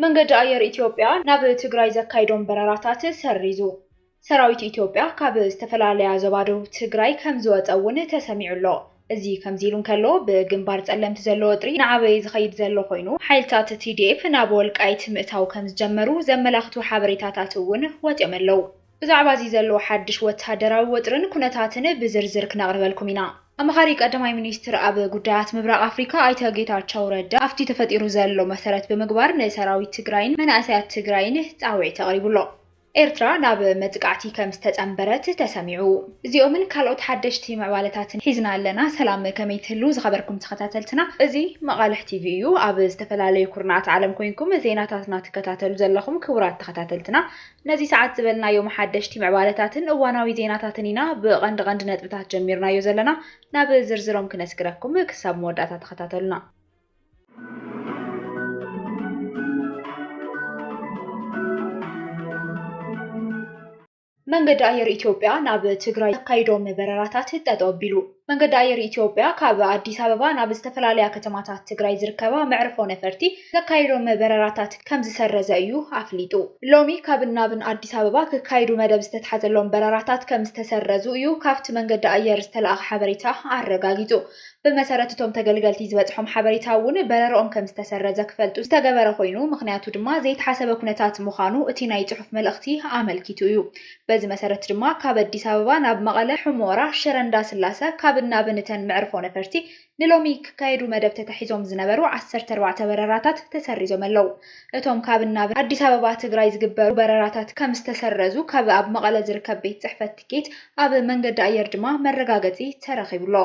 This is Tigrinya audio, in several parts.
መንገዲ ኣየር ኢትዮጵያ ናብ ትግራይ ዘካይዶም በረራታት ሰሪዙ። ሰራዊት ኢትዮጵያ ካብ ዝተፈላለያ ዞባ ደቡብ ትግራይ ከምዝወፀ እውን ተሰሚዑ ኣሎ። እዚ ከምዚ ኢሉ እንከሎ፣ ብግንባር ፀለምቲ ዘሎ ወጥሪ እናዓበየ ዝኸይድ ዘሎ ኮይኑ፣ ሓይልታት tdf ናብ ወልቃይት ምእታው ከምዝጀመሩ ዘመላኽቱ ሓበሬታታት እውን ወፂኦም ኣለው። ብዛዕባ እዚ ዘሎ ሓድሽ ወተሃደራዊ ወጥርን ኩነታትን ብዝርዝር ክነቕርበልኩም ኢና። ኣማኻሪ ቀዳማይ ሚኒስትር ኣብ ጉዳያት ምብራቕ ኣፍሪካ ኣይተ ጌታቸው ረዳ ኣብቲ ተፈጢሩ ዘሎ መሰረት ብምግባር ንሰራዊት ትግራይን መናእሰያት ትግራይን ፃውዒት ኣቕሪቡ ኣሎ። ኤርትራ ናብ መጥቃዕቲ ከም ዝተፀምበረት ተሰሚዑ። እዚኦምን ካልኦት ሓደሽቲ ምዕባለታትን ሒዝና ኣለና። ሰላም ከመይ ትህልዉ ዝኸበርኩም ተኸታተልትና። እዚ መቓልሕ ቲቪ እዩ። ኣብ ዝተፈላለዩ ኩርናዓት ዓለም ኮይንኩም ዜናታትና ትከታተሉ ዘለኹም ክቡራት ተኸታተልትና ነዚ ሰዓት ዝበልናዮም ሓደሽቲ ምዕባለታትን እዋናዊ ዜናታትን ኢና ብቐንዲ ቐንዲ ነጥብታት ጀሚርናዮ ዘለና። ናብ ዝርዝሮም ክነስግረኩም ክሳብ መወዳእታ ተኸታተሉና። መንገዲ ኣየር ኢትዮጵያ ናብ ትግራይ ዘካይዶም በረራታት ጠጠው ኣቢሉ። መንገዲ ኣየር ኢትዮጵያ ካብ ኣዲስ ኣበባ ናብ ዝተፈላለያ ከተማታት ትግራይ ዝርከባ መዕርፎ ነፈርቲ ዘካይዶም በረራታት ከምዝሰረዘ እዩ ኣፍሊጡ። ሎሚ ካብን ናብን ኣዲስ ኣበባ ክካየዱ መደብ ዝተትሓዘሎም በረራታት ከምዝተሰረዙ እዩ ካብቲ መንገዲ ኣየር ዝተልኣኸ ሓበሬታ ኣረጋጊፁ። ብመሰረት እቶም ተገልገልቲ ዝበፅሖም ሓበሬታ እውን በረርኦም ከምዝተሰረዘ ክፈልጡ ዝተገበረ ኮይኑ ምኽንያቱ ድማ ዘይተሓሰበ ኩነታት ምዃኑ እቲ ናይ ፅሑፍ መልእኽቲ ኣመልኪቱ እዩ። በዚ መሰረት ድማ ካብ ኣዲስ ኣበባ ናብ መቐለ፣ ሑመራ፣ ሽረ እንዳስላሰ ካብን ናብን እተን መዕርፎ ነፈርቲ ንሎሚ ክካየዱ መደብ ተታሒዞም ዝነበሩ ዓሰርተ ኣርባዕተ በረራታት ተሰሪዞም ኣለው። እቶም ካብን ናብን ኣዲስ ኣበባ ትግራይ ዝግበሩ በረራታት ከምዝተሰረዙ ካብ ኣብ መቐለ ዝርከብ ቤት ፅሕፈት ትኬት ኣብ መንገዲ ኣየር ድማ መረጋገፂ ተረኺቡ ኣሎ።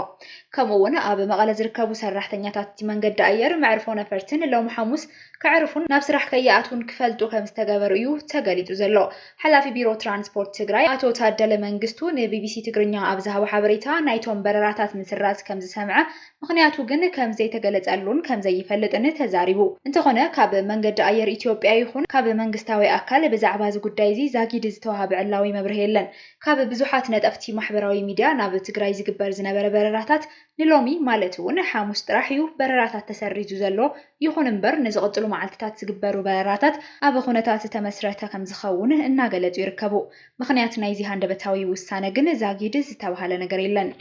ከምኡ እውን ኣብ መቐለ ዝርከቡ ሰራሕተኛታት እቲ መንገዲ ኣየር መዕርፎ ነፈርትን ሎሚ ሓሙስ ከዕርፉን ናብ ስራሕ ከይኣትዉን ክፈልጡ ከምዝተገበሩ እዩ ተገሊፁ ዘሎ። ሓላፊ ቢሮ ትራንስፖርት ትግራይ ኣቶ ታደለ መንግስቱ ንቢቢሲ ትግርኛ ኣብ ዝሃቦ ሓበሬታ፣ ናይቶም በረራታት ምስራዝ ከምዝሰምዐ ምኽንያቱ ግን ከምዘይተገለፀሉን ከምዘይፈልጥን ተዛሪቡ። እንተኾነ ካብ መንገዲ ኣየር ኢትዮጵያ ይኹን ካብ መንግስታዊ ኣካል ብዛዕባ እዚ ጉዳይ እዚ ዛጊድ ዝተውሃበ ዕላዊ መብርሂ የለን። ካብ ብዙሓት ነጠፍቲ ማሕበራዊ ሚዲያ ናብ ትግራይ ዝግበር ዝነበረ በረራታት ንሎሚ ማለት እውን ሓሙስ ጥራሕ እዩ በረራታት ተሰሪዙ ዘሎ። ይኹን እምበር ንዝቕፅሉ መዓልቲታት ዝግበሩ በረራታት ኣብ ኹነታት ዝተመስረተ ከምዝኸውን እናገለፁ ይርከቡ። ምኽንያት ናይዚ ሃንደበታዊ ውሳነ ግን ዛጊድ ዝተብሃለ ነገር የለን።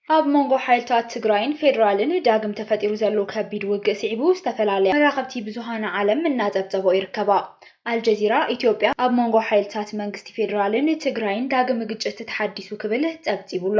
ኣብ መንጎ ሓይልታት ትግራይን ፌዴራልን ዳግም ተፈጢሩ ዘሎ ከቢድ ውግእ ስዒቡ ዝተፈላለያ መራኸብቲ ብዙሃን ዓለም እናፀብፀበኦ ይርከባ። ኣልጀዚራ ኢትዮጵያ ኣብ መንጎ ሓይልታት መንግስቲ ፌዴራልን ትግራይን ዳግም ግጭት ተሓዲሱ ክብል ፀብፂቡ ኣሎ።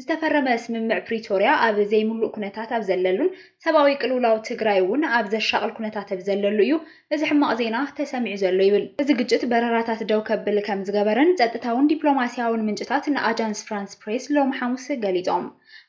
ዝተፈረመ ስምምዕ ፕሪቶርያ ኣብ ዘይምሉእ ኩነታት ኣብ ዘለሉን ሰብኣዊ ቅልውላው ትግራይ እውን ኣብ ዘሻቕል ኩነታት ኣብ ዘለሉ እዩ እዚ ሕማቕ ዜና ተሰሚዑ ዘሎ ይብል። እዚ ግጭት በረራታት ደው ከብል ከምዝገበረን ጸጥታውን ዲፕሎማስያውን ምንጭታት ንኣጃንስ ፍራንስ ፕሬስ ሎሚ ሓሙስ ገሊጾም።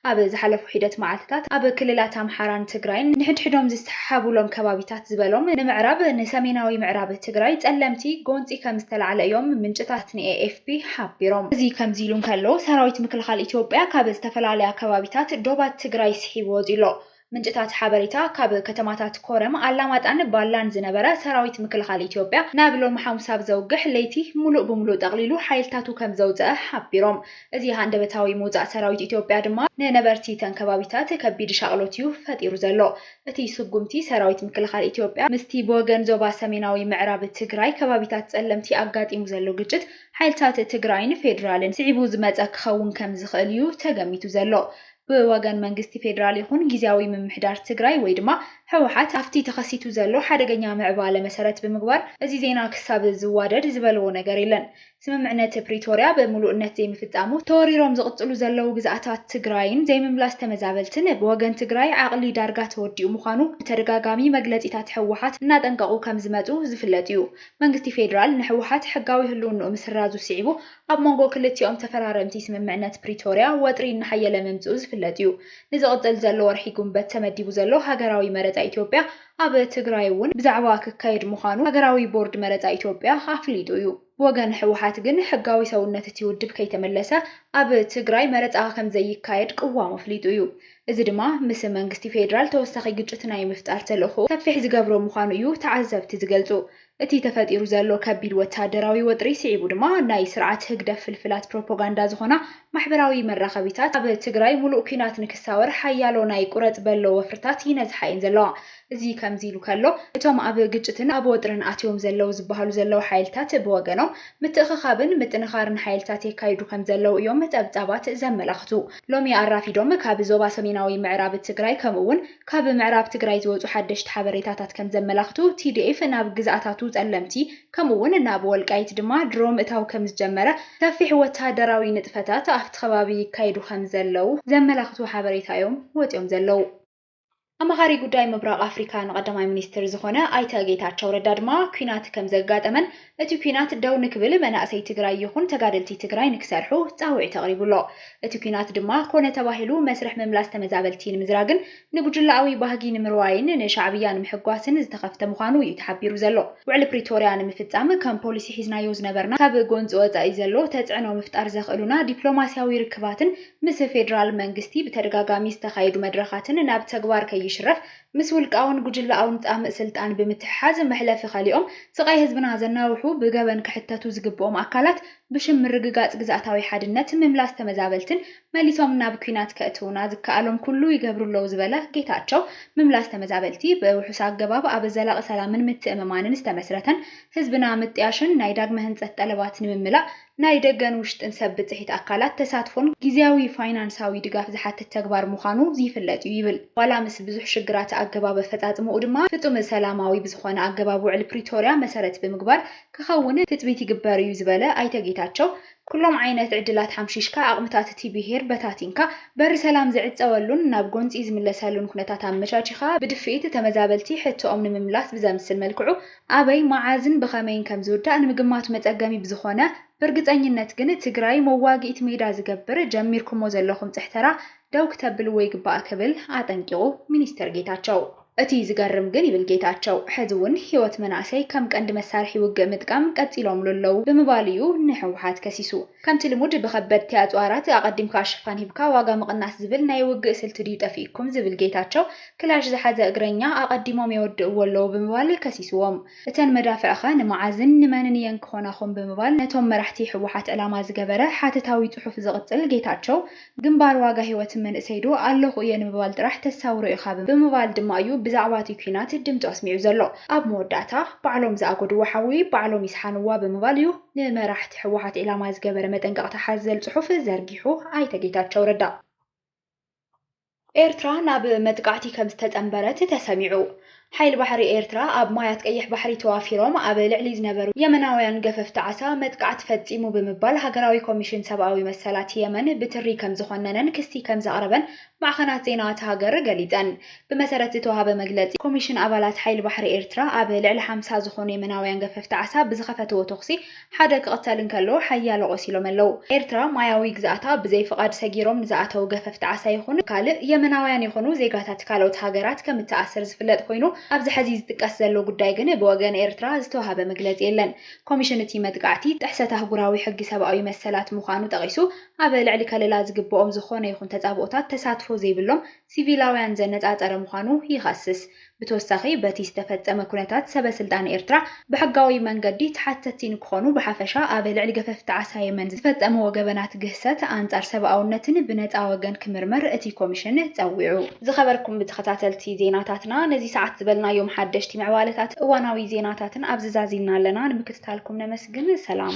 ኣብ ዝሓለፉ ሒደት መዓልትታት ኣብ ክልላት ኣምሓራን ትግራይን ንሕድሕዶም ዝሰሓሓቡሎም ከባቢታት ዝበሎም ንምዕራብ ንሰሜናዊ ምዕራብ ትግራይ ጸለምቲ ጎንጺ ከምዝተላዕለ እዮም ምንጭታት ንኤ። ቢቢ ሓቢሮም። እዚ ከምዚሉ እንከሎ፣ ሰራዊት ምክልኻል ኢትዮጵያ ካብ ዝተፈላለያ ከባቢታት ዶባት ትግራይ ስሒቡ ወጺኡ'ሎ። ምንጭታት ሓበሬታ፣ ካብ ከተማታት ኮረም፣ ኣላማጣን ባላን ዝነበረ ሰራዊት ምክልኻል ኢትዮጵያ፣ ናብ ሎሚ ሓሙስ ኣብ ዘውግሕ ለይቲ ምሉእ ብምሉእ ጠቕሊሉ ሓይልታቱ ከምዘውጸኣ ሓቢሮም። እዚ ሃንደበታዊ ምውጻእ ሰራዊት ኢትዮጵያ ድማ ንነበርቲ እተን ከባቢታት ከቢድ ሻቕሎት'ዩ ፈጢሩ ዘሎ። እቲ ስጉምቲ ሰራዊት ምክልኻል ኢትዮጵያ ምስቲ ብወገን ዞባ ሰሜናዊ ምዕራብ ትግራይ ከባቢታት ፀለምቲ ኣጋጢሙ ዘሎ ግጭት ሓይልታት ትግራይን ፌዴራልን ስዒቡ ዝመፀ ክኸውን ከምዝኽእል እዩ ተገሚቱ ዘሎ። ብወገን መንግስቲ ፌዴራል ይኹን ጊዚያዊ ምምሕዳር ትግራይ ወይ ድማ ህወሓት ኣብቲ ተኸሲቱ ዘሎ ሓደገኛ ምዕባለ መሰረት ብምግባር እዚ ዜና ክሳብ ዝዋደድ ዝበልዎ ነገር የለን። ስምምዕነት ፕሪቶርያ ብምሉእነት ዘይምፍፃሙ፣ ተወሪሮም ዝቕፅሉ ዘለዉ ግዝኣታት ትግራይን ዘይምምላስ ተመዛበልትን ብወገን ትግራይ ዓቕሊ ዳርጋ ተወዲኡ ምዃኑ ብተደጋጋሚ መግለፂታት ህወሓት እናጠንቀቑ ከምዝመፁ ዝፍለጥ እዩ። መንግስቲ ፌዴራል ንህወሓት ሕጋዊ ህልውንኡ ምስራዙ ስዒቡ ኣብ መንጎ ክልቲኦም ተፈራረምቲ ስምምዕነት ፕሪቶርያ ወጥሪ እናሓየለ ምምፅኡ ዝፍለጥ እዩ። ንዝቕፅል ዘሎ ወርሒ ጉንበት ተመዲቡ ዘሎ ሃገራዊ መረፃ ኢትዮጵያ ኣብ ትግራይ እውን ብዛዕባ ክካየድ ምዃኑ ሃገራዊ ቦርድ መረፃ ኢትዮጵያ ኣፍሊጡ እዩ። ብወገን ህወሓት ግን ሕጋዊ ሰውነት እቲ ውድብ ከይተመለሰ ኣብ ትግራይ መረፃ ከምዘይካየድ ቅዋሙ ኣፍሊጡ እዩ። እዚ ድማ ምስ መንግስቲ ፌዴራል ተወሳኺ ግጭት ናይ ምፍጣር ተልእኾኡ ሰፊሕ ዝገብሮ ምዃኑ እዩ ተዓዘብቲ ዝገልፁ። እቲ ተፈጢሩ ዘሎ ከቢድ ወተሃደራዊ ወጥሪ ስዒቡ ድማ ናይ ስርዓት ህግደፍ ፍልፍላት ፕሮፖጋንዳ ዝኾና ማሕበራዊ መራኸቢታት ኣብ ትግራይ ሙሉእ ኲናት ንክሳወር ሓያሎ ናይ ቁረጽ በሎ ወፍርታት ይነዝሓ እየን ዘለዋ። እዚ ከምዚ ኢሉ ከሎ እቶም ኣብ ግጭትን ኣብ ወጥርን ኣትዮም ዘለው ዝበሃሉ ዘለው ሓይልታት ብወገኖም ምትእኽኻብን ምጥንኻርን ሓይልታት የካይዱ ከምዘለው እዮም ጸብጻባት ዘመላኽቱ። ሎሚ ኣራፊዶም ካብ ዞባ ሰሜናዊ ምዕራብ ትግራይ ከምኡ'ውን ካብ ምዕራብ ትግራይ ዝወጹ ሓደሽቲ ሓበሬታታት ከም ዘመላኽቱ፣ ቲዲኤፍ ናብ ግዝኣታቱ ጸለምቲ ከምኡ'ውን ናብ ወልቃይት ድማ ድሮ ምእታው ከም ዝጀመረ፣ ሰፊሕ ወተሃደራዊ ንጥፈታት ኣብቲ ከባቢ ይካየዱ ከም ዘለዉ ዘመላኽቱ ሓበሬታ እዮም ወጺኦም ዘለዉ። ኣማኻሪ ጉዳይ ምብራቕ ኣፍሪካ ንቀዳማይ ሚኒስትር ዝኾነ ኣይተ ጌታቸው ረዳ ድማ፣ ኲናት ከም ዘጋጠመን፣ እቲ ኲናት ደው ንክብል መናእሰይ ትግራይ ይኹን ተጋደልቲ ትግራይ ንክሰርሑ ፃውዒት ኣቕሪቡ ኣሎ። እቲ ኲናት ድማ ኮነ ተባሂሉ መስርሕ ምምላስ ተመዛበልቲ ንምዝራግን ንጉጅለኣዊ ባህጊ ንምርዋይን ንሻዕብያ ንምሕጓስን ዝተኸፍተ ምዃኑ እዩ ተሓቢሩ ዘሎ። ውዕሊ ፕሪቶርያ ንምፍፃም ከም ፖሊሲ ሒዝናዮ ዝነበርና ካብ ጎንፂ ወፃኢ ዘሎ ተፅዕኖ ምፍጣር ዘኽእሉና ዲፕሎማሲያዊ ርክባትን ምስ ፌዴራል መንግስቲ ብተደጋጋሚ ዝተኻየዱ መድረኻትን ናብ ተግባር ከይሽረፍ ምስ ውልቃውን ጉጅለኣውን ፃምእ ስልጣን ብምትሕሓዝ መሕለፊ ከሊኦም ስቓይ ህዝብና ዘናውሑ ብገበን ክሕተቱ ዝግብኦም ኣካላት ብሽም ምርግጋፅ ግዝኣታዊ ሓድነት፣ ምምላስ ተመዛበልትን መሊሶም ናብ ኲናት ከእትውና ዝከኣሎም ኩሉ ይገብሩ ኣለዉ ዝበለ ጌታቸው ምምላስ ተመዛበልቲ ብውሑስ ኣገባብ ኣብ ዘላቒ ሰላምን ምትእምማንን ዝተመስረተን ህዝብና ምጥያሽን ናይ ዳግመ ህንፀት ጠለባት ንምምላእ ናይ ደገን ውሽጥን ሰብ ብፅሒት ኣካላት ተሳትፎን ጊዚያዊ ፋይናንሳዊ ድጋፍ ዝሓትት ተግባር ምዃኑ ዝይፍለጥ እዩ ይብል። ዋላ ምስ ብዙሕ ሽግራተ ኣገባብ ኣፈፃፅምኡ ድማ ፍፁም ሰላማዊ ብዝኾነ ኣገባብ ውዕሊ ፕሪቶርያ መሰረት ብምግባር ክኸውን ትፅቢት ይግበር እዩ ዝበለ ኣይተ ጌታቸው፣ ኩሎም ዓይነት ዕድላት ሓምሺሽካ ኣቕምታት እቲ ብሄር በታቲንካ በሪ ሰላም ዝዕፀወሉን ናብ ጎንፂ ዝምለሰሉን ኩነታት ኣመቻቺኻ ብድፍኢት ተመዛበልቲ ሕቶኦም ንምምላስ ብዘምስል መልክዑ ኣበይ፣ መዓዝን ብኸመይን ከም ዝውዳእ ንምግማቱ መጸገሚ ብዝኾነ፣ ብርግጸኝነት ግን ትግራይ መዋግኢት ሜዳ ዝገብር ጀሚርኩሞ ዘለኹም ጽሕተራ ደው ክተብልዎ ይግባእ ክብል ኣጠንቂቑ ሚኒስተር ጌታቸው። እቲ ዝገርም ግን ይብል ጌታቸው፣ ሕዚ'ውን ህይወት መናእሰይ ከም ቀንዲ መሳርሒ ውግእ ምጥቃም ቀጺሎምሉ ኣለዉ ብምባል'ዩ ንህወሓት ከሲሱ። ከምቲ ልሙድ ብከበድቲ ኣጽዋራት ኣቐዲምካ ሽፋን ሂብካ ዋጋ ምቕናስ ዝብል ናይ ውግእ ስልቲ ድዩ ጠፊኡኩም ዝብል ጌታቸው፣ ክላሽ ዝሓዘ እግረኛ ኣቐዲሞም የወድእዎ ኣለዉ ብምባል ከሲስዎም። እተን መዳፍዕ'ኸ ንመዓዝን ንመንን እየን ክኾናኹም ብምባል ነቶም መራሕቲ ህወሓት ዕላማ ዝገበረ ሓተታዊ ጽሑፍ ዝቕጽል ጌታቸው፣ ግንባር ዋጋ ህይወት መንእሰይ'ዶ ኣለኹ እየ ንምባል ጥራሕ ተሳውሮ ኢኻ ብምባል ድማ እዩ ብዛዕባ'ቲ ኲናት ድምጹ ኣስሚዑ ዘሎ። ኣብ መወዳእታ፣ ባዕሎም ዝኣጎድዎ ሓዊ ባዕሎም ይስሓንዋ ብምባል እዩ ንመራሕቲ ህወሓት ዒላማ ዝገበረ መጠንቀቕታ ሓዘል ጽሑፍ ዘርጊሑ ኣይተ ጌታቸው ረዳ። ኤርትራ ናብ መጥቃዕቲ ከም ዝተጸንበረት ተሰሚዑ። ሓይሊ ባሕሪ ኤርትራ ኣብ ማያት ቀይሕ ባሕሪ ተዋፊሮም ኣብ ልዕሊ ዝነበሩ የመናውያን ገፈፍቲ ዓሳ መጥቃዕቲ ፈጺሙ ብምባል ሃገራዊ ኮሚሽን ሰብኣዊ መሰላት የመን ብትሪ ከም ዝዀነነን ክሲ ከም ዘቕረበን ማዕኸናት ዜና እታ ሃገር ገሊጸን። ብመሰረት ዝተዋህበ መግለጺ ኮሚሽን ኣባላት ሓይሊ ባሕሪ ኤርትራ ኣብ ልዕሊ ሓምሳ ዝዀኑ የመናውያን ገፈፍቲ ዓሳ ብዝኸፈትዎ ተዅሲ ሓደ ክቕተል እንከሎ ሓያሎ ቆሲሎም ኣለው። ኤርትራ ማያዊ ግዝኣታ ብዘይ ፍቓድ ሰጊሮም ንዝኣተው ገፈፍቲ ዓሳ ይኹኑ ካልእ የመናውያን ይኹኑ ዜጋታት ካልኦት ሃገራት ከም እትኣስር ዝፍለጥ ኮይኑ ኣብዚ ሐዚ ዝጥቀስ ዘሎ ጉዳይ ግን ብወገን ኤርትራ ዝተዋህበ መግለጺ የለን። ኮሚሽን እቲ መጥቃዕቲ ጥሕሰት ኣህጉራዊ ሕጊ ሰብኣዊ መሰላት ምዃኑ ጠቒሱ ኣብ ልዕሊ ከለላ ዝግበኦም ዝኾነ ይኹን ተጻብኦታት ተሳትፎ ዘይብሎም ሲቪላውያን ዘነጻጸረ ምዃኑ ይኸስስ። ብተወሳኺ በቲ ዝተፈጸመ ኩነታት ሰበ ስልጣን ኤርትራ ብሕጋዊ መንገዲ ተሓተቲ ንክኾኑ ብሓፈሻ ኣብ ልዕሊ ገፈፍቲ ዓሳ የመን ዝፈጸምዎ ገበናት ግህሰት ኣንጻር ሰብኣውነትን ብነጻ ወገን ክምርመር እቲ ኮሚሽን ጸዊዑ። ዝኸበርኩም ተኸታተልቲ ዜናታትና ነዚ ሰዓት ዝበልናዮም ሓደሽቲ ምዕባለታትን እዋናዊ ዜናታትን ኣብዚ ዛዚምና ኣለና ንምክትታልኩም ነመስግን ሰላም።